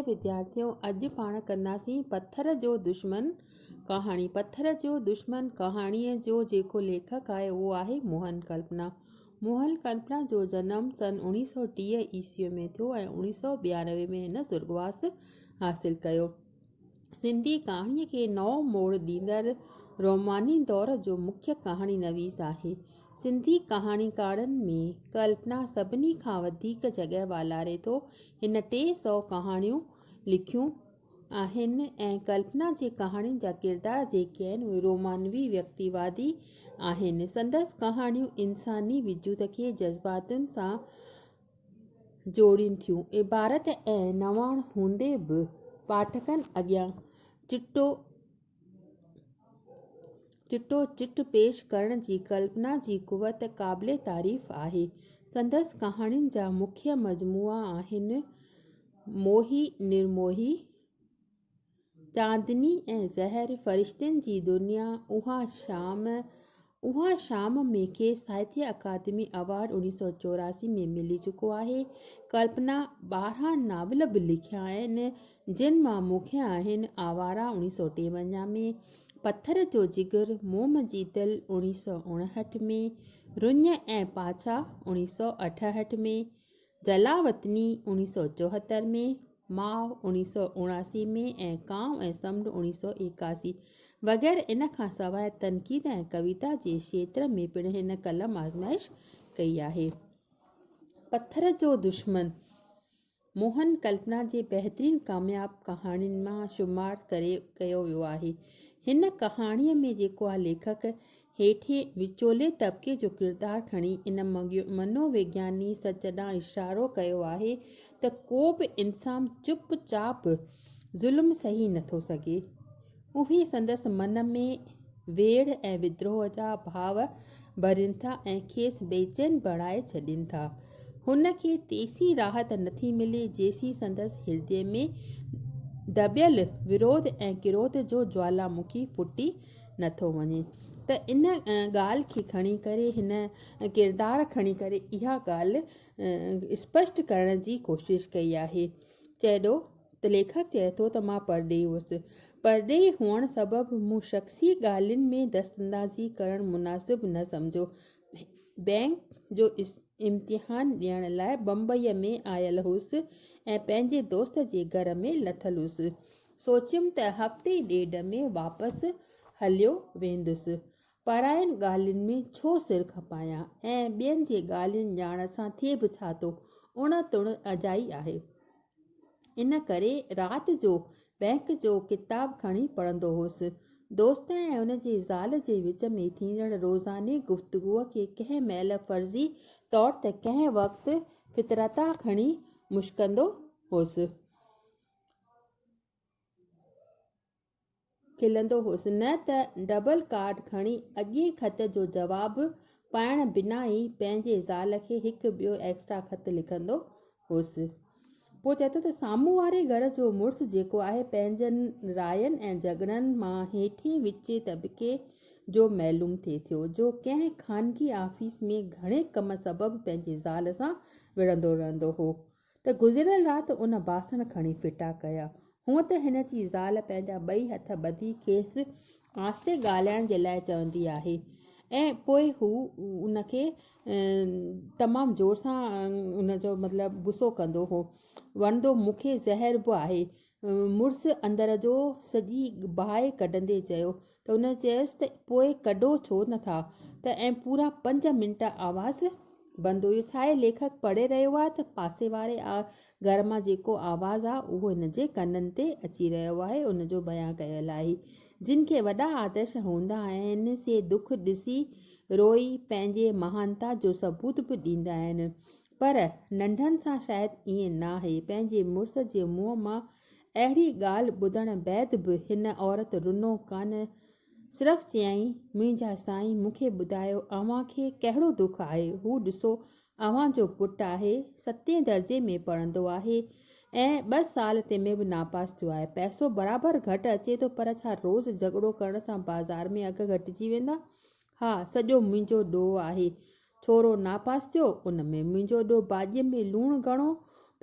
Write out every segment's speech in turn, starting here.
اي وديارٿيو! اڄ پاڻ ڪنداسين پٿر جو دشمن ڪهاڻي. پٿر جو دشمن ڪهاڻيء جو جيڪو ليکڪ آهي اهو آهي موهن ڪلپنا. موهن ڪلپنا جو جنم سن اوڻيهه سؤ ٽيهه عيسويء ۾ ٿيو ۽ اوڻيهه سؤ ٻيانوي ۾ هن سرڳواس حاصل ڪيو. سنڌي ڪهاڻيء کي نئون موڙ ڏيندڙ روماني دور جو مکيه ڪهاڻي نويس آهي. سنڌي ڪهاڻيڪارن ۾ ڪلپنا سڀني کان وڌيڪ جڳهه والاري ٿو. هن ٽي سؤ ڪهاڻيون لکيون آهن ۽ ڪلپنا جي ڪهاڻين جا ڪردار جيڪي آهن اهي رومانوي ويڪتي وادي آهن. سندس ڪهاڻيون انساني وجود کي جذباتن سان جوڙين ٿيون. عبارت ۽ نواڻ هوندي به پاٺڪن اڳيان چٽو چٽو چٽ پيش ڪرڻ جي ڪلپنا جي قوت قابل تعريف آهي. سندس ڪهاڻين جا مکيه مجموعا آهن، موهي، نرموهي، چاندني ۽ زهر فرشتن جي دنيا اها شام اها شام ۾ کيس ساهتيه اڪادمي ايوارڊ 1984 ۾ ملي چڪو آهي ڪلپنا ٻارهن ناول به لکيا آهن جن مان مکيه آهن آواره 1953 ۾، پٿر جو جگر، موم جي دل 1959 ۾، رڃ ۽ پاڇا 1968 ۾. جلاوطني اڻيهه سؤ چوهتر ۾ ماء اڻيهه سؤ اڻاسي ۾ ۽ ڪانء ۽ سمنڊ اڻيهه سؤ ايڪاسي وغيره ان کان سواء تنقيد ۽ ڪويتا جي شيتر ۾ پڻ هن قلم آزمائش ڪئي آهي پٿر جو دشمن موهن ڪلپنا جي بهترين ڪامياب ڪهاڻين مان شمار ڪيو ويو آهي هن ڪهاڻي ۾ جيڪو آهي ليکڪ هيٺين وچولي طبقي جو ڪردار کڻي ان منو وگياني سچ ڏانهن اشارو ڪيو آهي ته ڪو به انسان چپ چاپ ظلم سهي نٿو سگهي. اهي سندس من ۾ ويڙهه ۽ ودروهه جا ڀاو ڀرين ٿا ۽ کيس بيچين بڻائي ڇڏين ٿا. هن کي تيسين راحت نٿي ملي جيسين سندس هردي ۾ دٻيل ورود ۽ ڪروڌ جو جوالامکي ڦٽي نٿو وڃي ته ان ڳالهه کي کڻي ڪري هن ڪردار کڻي ڪري اها ڳالهه اسپشٽ ڪرڻ جي ڪوشش ڪئي آهي چيڏو ته ليکڪ چئي ٿو ته مان پرڏيهي هئس پرڏيهي هئڻ سبب مون شخصي ڳالهين ۾ دستندازي ڪرڻ مناسب نه سمجهيو بئنڪ جو امتحان ڏيڻ لاء بمبئي ۾ آيل هئس ۽ پنهنجي دوست جي گهر ۾ لٿل هئس سوچيم ته هفتي ڏيڍ ۾ واپس هليو ويندس. پرائين ڳالهين ۾ ڇو سر کپايان ۽ ٻين جي ڳالهين ڄاڻڻ سان ٿئي به ڇا ٿو، اڻ تڻ اجائي آهي. ان ڪري رات جو بئنڪ جو ڪتاب کڻي پڙهندو هوس. دوست ۽ ان جي زال جي وچ ۾ ٿيندڙ روزاني گفتگوء کي ڪنهن مهل فرضي طور ته ڪنهن وقت فطرتاً کڻي مشڪندو هوس. کلندو هوس، نه ته ڊبل ڪارڊ کڻي اڳئين خط جو جواب پڙهڻ بنا ئي پنهنجي زال کي هڪ ٻيو ايڪسٽرا خط لکندو هوس. پوء چئي ٿو ته سامهون واري گهر جو مڙس جيڪو آهي، پنهنجن راين ۽ جهڳڙن مان هيٺين وچين طبقي جو معلوم ٿئي ٿو، جو ڪنهن خانگي آفيس ۾ گهڻي ڪم سبب پنهنجي زال سان وڙهندو رهندو هو. ته گذريل رات ان باسڻ کڻي ڦٽا ڪيا. هونء ته هن جي زال پنهنجا ٻئي هٿ ٻڌي کيس آهستي ڳالهائڻ جي لاء چوندي آهي ۽ پوء هو ان کي تمام زور سان ان جو مطلب غصو ڪندو هو. وڻندو مون کي زهر به آهي مڙس اندر جو سڄي باهه ڪڍندي چيو ته هن چيس ته پوء ڪڍو ڇو نه ٿا ته ۽ پورا پنج منٽ آواز بند هيو ڇاهي ليکڪ پڙهي رهيو آهي ته پاسي واري گهر مان جيڪو آواز آهي اهو هن جي ڪنن تي اچي رهيو آهي ان جو بيان ڪيل آهي جن کي وڏا آدرش هوندا آهن سي دک ڏسي روئي پنهنجي مهانتا جو ثبوت به ڏيندا آهن پر ننڍن سان شايد ائين ناهي. پنهنجي مڙس جي منهن مان اهڙي ڳالهه ٻڌڻ بعد به هن عورت رنو ڪانه صرف چيائين، منهنجا سائين مون کي ٻڌايو اوهان کي ڪهڙو دک آهي، هو ڏسو اوهان جو پٽ آهي، ستين درجي ۾ پڙهندو آهي ۽ ٻه سال تي ۾ به ناپاس ٿيو آهي، پئسو برابر گهٽ اچي ٿو پر ڇا روز جهڳڙو ڪرڻ سان بازار ۾ اگهه گهٽجي ويندا؟ ها سڄو منهنجو ڏوهه آهي ڇورو ناپاس ٿيو، ان ۾ منهنجو ڏو ڀاڄيء ۾ لوڻ گهڻو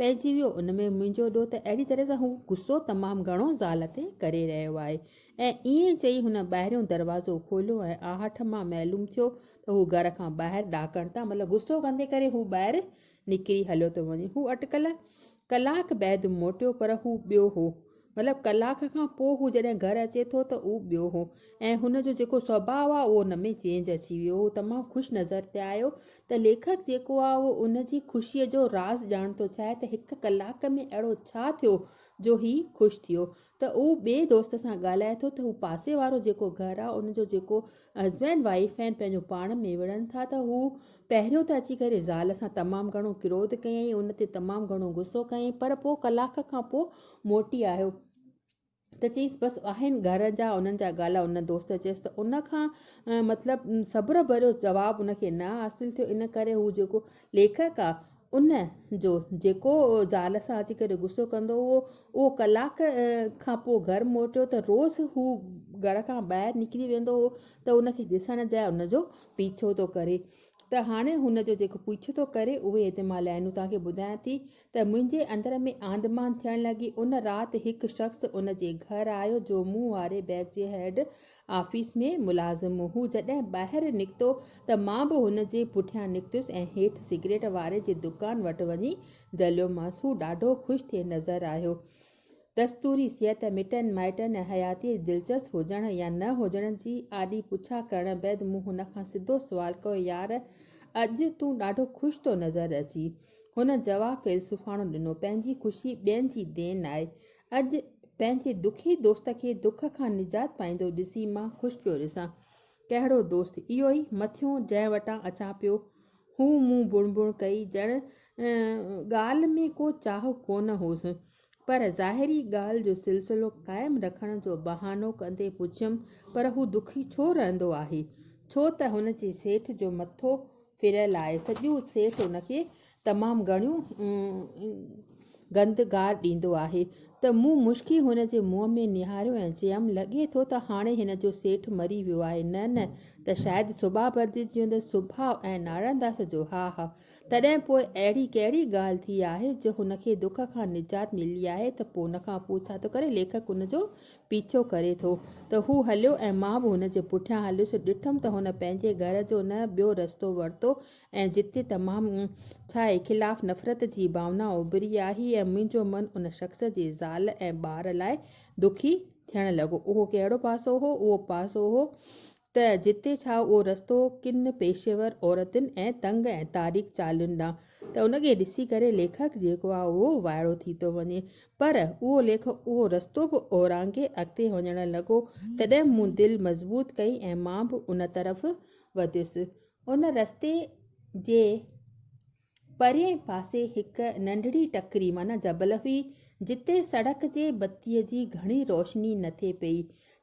پئجي ويو، ان ۾ منهنجو ڏو ته اهڙي طرح سان هو غصو تمام گهڻو زال تي ڪري رهيو آهي. ۽ ائين چئي هن ٻاهريون دروازو کوليو ۽ آهٺ مان معلوم ٿيو ته هو گهر کان ٻاهر ڏاڪڻ تان مطلب غصو ڪندي ڪري هو ٻاهر نڪري هليو ٿو وڃي. هو اٽڪل ڪلاڪ بعد موٽيو پر هو ٻيو هو. مطلب ڪلاڪ کان پوء هو جڏهن گهر اچي ٿو ته هو ٻيو هو ۽ هن جو جيڪو سوڀاء آ اهو ان ۾ چينج اچي ويو. هو تمام خوش نظر پئي آيو ته ليکڪ جيڪو آ اهو ان جي خوشيء جو راز ڄاڻڻ ٿو چاهي ته هڪ ڪلاڪ ۾ اهڙو ڇا ٿيو جو هي خوش ٿيو ته اهو ٻئي دوست سان ڳالهائي ٿو ته هو پاسي وارو جيڪو گهر آ ان جو جيڪو هسبينڊ وائيف آهن پنهنجو پاڻ ۾ وڙهن ٿا ته هو پهريون ته اچي ڪري زال سان تمام گهڻو ڪروڌ ڪيائين، ان تي تمام گهڻو غصو ڪيائين، پر پوء ڪلاڪ کان پوء موٽي آيو ته چيس بس آهن گهر جا انهن جا گالا ان دوست چيس ته ان کان مطلب صبر ڀريو جواب ان کي نه حاصل ٿيو ان ڪري هو جيڪو ليکڪ آ ان جو جيڪو زال سان اچي ڪري غصو ڪندو هو اهو ڪلاڪ کان پوء گهر موٽيو ته روز هو گهر کان ٻاهر نڪري ويندو هو ته ان کي ڏسڻ جاء ان جو پيڇو ٿو ڪري ته هاڻي هن جو جيڪو پيڇو ٿو ڪري اهي هتي مان لائينون توهان کي ٻڌايان ٿي ته منهنجي اندر ۾ آنڌ مانڌ ٿيڻ لڳي ان رات هڪ شخص ان جي گهر آيو جو مون واري بئڪ جي هيڊ آفيس ۾ ملازم هو جڏهن ٻاهر نڪتو ته مان به هن جي پٺيان نڪتس ۽ هيٺ سگريٽ واري جي دڪان وٽ وڃي جهليومانس هو ڏاڍو خوش ٿي نظر آيو دستوري صحت، مٽن مائٽن ۽ حياتيء جي دلچسپ هجڻ يا نه هجڻ جي آڏي پڇا ڪرڻ بعد مون هن کان سڌو سوال ڪيو، يار! اڄ تون ڏاڍو خوش ٿو نظر اچين. هن جواب فيلسوفاڻو ڏنو، پنهنجي خوشي ٻين جي دين آهي. اڄ پنهنجي دکي دوست کي دک کان نجات پائيندو ڏسي مان خوش پيو ڏسان. ڪهڙو دوست؟ اهو ئي مٿيون جنهن وٽان اچان پيو. هو مون بڻ بڻ ڪئي، ڄڻ ڳالهه ۾ ڪو چاهه ڪونه هوس، پر ظاهري ڳالهه جو سلسلو قائم رکڻ جو بهانو ڪندي پڇيم، پر هو دکي ڇو رهندو آهي؟ ڇو ته هن جي سيٺ جو مٿو ڦريل آهي، سڄو سيٺ هن کي تمام گهڻيون گند گار ڏيندو آهي ته مون مشڪي هن جي منهن ۾ نهاريو ۽ چيم، لڳي ٿو ته هاڻي هن جو سيٺ مري ويو آهي. نه نه، ته شايد سوڀا ڀرجي جيوندس سوڀاء ۽ نارائڻداس جو ها ها. تڏهن پوء اهڙي ڪهڙي ڳالهه ٿي آهي جو هن کي دک کان نجات ملي آهي ته پوء ان کان پوء ڇا ٿو ڪري؟ ليکڪ ان جو پيڇو ڪري ٿو ته هو هليو ۽ مان به هن جي پٺيان هليس. ڏٺم ته هن پنهنجي گهر جو نه ٻيو رستو ورتو ۽ جتي تمام ڇا اي خلاف نفرت جي ڀاونا اڀري آهي ۽ منهنجو من ان شخص جي زال ۽ ٻار لاء دکي ٿيڻ لڳو. اهو ڪهڙو پاسو هو؟ اهو پاسو هو ته جتي ڇا اهو رستو ڪن پيشيور عورتن ۽ تنگ ۽ تاريڪ چالهين ڏانهن ته ان کي ڏسي ڪري ليکڪ جيڪو آهي اهو وائڙو ٿي ٿو وڃي پر اهو ليکڪ اهو رستو به اورانگهي اڳتي وڃڻ لڳو تڏهن مون دل مضبوط ڪئي ۽ مان به ان طرف وڌيس. ان رستي جي پرئين پاسي هڪ ننڍڙي ٽڪري معنيٰ جبل هئي، جتي سڙڪ جي بتيء جي گهڻي روشني نه ٿئي پئي.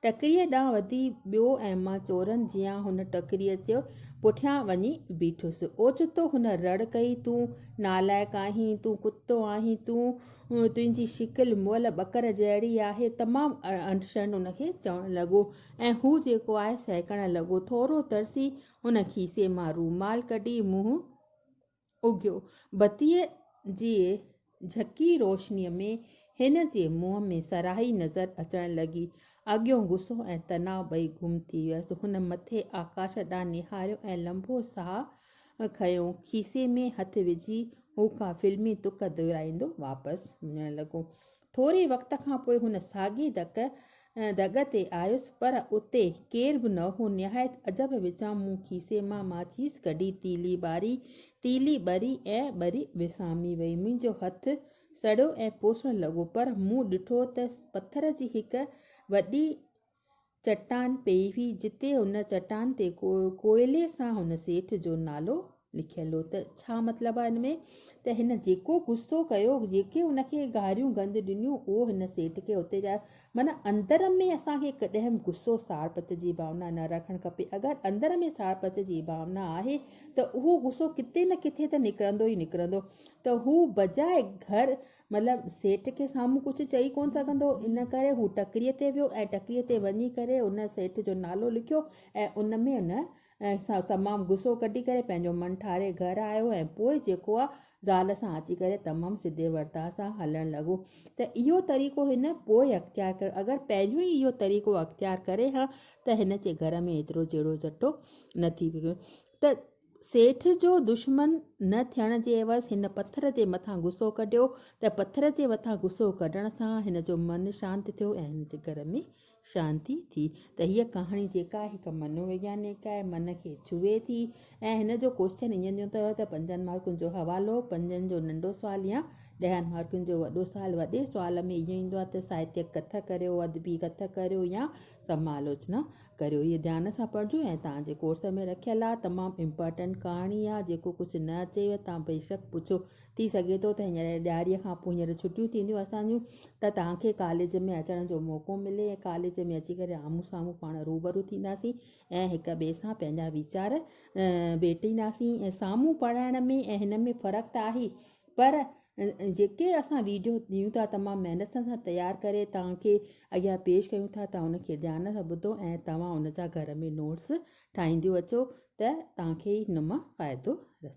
ٽڪريء ڏانهن وڌي ويو ۽ مان چورن جيان هن ٽڪريء جي پٺيان وڃي بيٺس. اوچتو هن رڙ ڪئي، تون نالائق آهين، تون ڪتو آهين، تنهنجي شڪل مئل ٻڪر جهڙي آهي. تمام اڻ شرم ان کي چوڻ لڳو. ۽ هو جيڪو آهي سهڪڻ لڳو. ٿورو ترسي هن کيسي مان رومال ڪڍي منهن اگهيو. بتيء جي جهڪي روشنيء ۾ هن جي منهن ۾ سرهائي نظر اچڻ لڳي. اڳيون غصو ۽ تناء ٻئي گم ٿي ويس. هن مٿي آڪاش ڏانهن نهاريو ۽ لنبو ساهه کنيو. کيسي ۾ هٿ وجهي هو ڪا فلمي تڪ دهرائيندو واپس وڃڻ لڳو. ٿوري وقت کان پوء هن ساڳي ڌڪ دڳ تي آيس پر اتي ڪير به نه هو. نهايت عجب وچان مون کيسي مان ماچيس ڪڍي تيلي ٻاري. تيلي ٻري ۽ ٻري وسامي وئي. منهنجو هٿ سڙيو ۽ پوسڻ لڳو پر مون ڏٺو ته پٿر جي هڪ وڏي چٽان پئي هئي جتي ان چٽان تي ڪوئلي سان هن سيٺ جو نالو لکيل هو ته ڇا مطلب آهي ان ۾ ته هن جيڪو غصو ڪيو جيڪي ان کي گاريون گند ڏنيون اهو هن سيٺ کي اتي جا معنيٰ اندر ۾ اسان کي ڪڏهن به غصو ساڙ پچ جي ڀاونا نه رکڻ کپي اگر اندر ۾ ساڙ پچ جي ڀاونا آهي ته اهو غصو ڪٿي نه ڪٿي ته نڪرندو ئي نڪرندو ته هو بجاء گهر مطلب سيٺ کي سامهون ڪجهه چئي ڪونه سگهندو ان ڪري هو ٽڪريء تي ويو ۽ ٽڪريء تي وڃي ڪري ان سيٺ جو نالو لکيو ۽ ان ۾ ان ۽ سا تمام غصو ڪڍي ڪري پنهنجو من ٺاري گهر آيو ۽ پوء جيڪو آ زال سان اچي ڪري تمام سڌي ورتاء سان هلڻ لڳو ته اهو طريقو هن پوء اختيار ڪيو اگر پنهنجو ئي اهو طريقو اختيار ڪري ها ته هن جي گهر ۾ ايترو جهيڙو جهٽو نه ٿي ويو ته سيٺ جو دشمن نه ٿيڻ جي عيوض هن پٿر جي مٿان غصو ڪڍيو ته پٿر جي مٿان غصو ڪڍڻ سان هن جو من شانت ٿيو ۽ هن جي گهر ۾ شانتي ٿي ته هيء ڪهاڻي جيڪا هڪ منو ويگيانڪ آهي، من کي ڇهي ٿي ۽ هن جو ڪوئسچن ائين ڏيون ته ته پنجن مارڪن جو حوالو، پنجن جو ننڍو سوال يا ڏهن مارڪن جو وڏو سوال، وڏي سوال ۾ اهو ايندو آهي ته ساهتيڪ ڪٿ ڪريو، ادبي ڪٿ ڪريو يا سمالاوچنا ڪريو. هيء ڌيان سان پڙهجو ۽ توهان جي ڪورس ۾ رکيل آهي، تمام امپارٽنٽ ڪهاڻي آهي، جيڪو ڪجهه نه اچيو ته توهان بيشڪ پڇو ٿي سگهي ٿو ته هينئر ڏياري کان پوء هينئر ڇٽيون ٿينديون اسان جون ته توهان کي ڪاليج ۾ اچڻ جو موقعو ملي ۽ ڪاليج ۾ اچي ڪري آمهون سامهون پاڻ روبرو ٿينداسين ۽ هڪ ٻئي سان پنهنجا ويچار ويٽينداسين ۽ سامهون پڙهائڻ ۾ ۽ هن ۾ فرق ته آهي پر جيڪي اسان ويڊيو ڏيون ٿا تمام محنت سان اسان تيار ڪري توهان کي اڳيان پيش ڪيون ٿا توهان ان کي ڌيان سان ٻڌو ۽ توهان ان جا گهر ۾ نوٽس ٺاهينديون اچو ته توهان کي ان مان فائدو رسي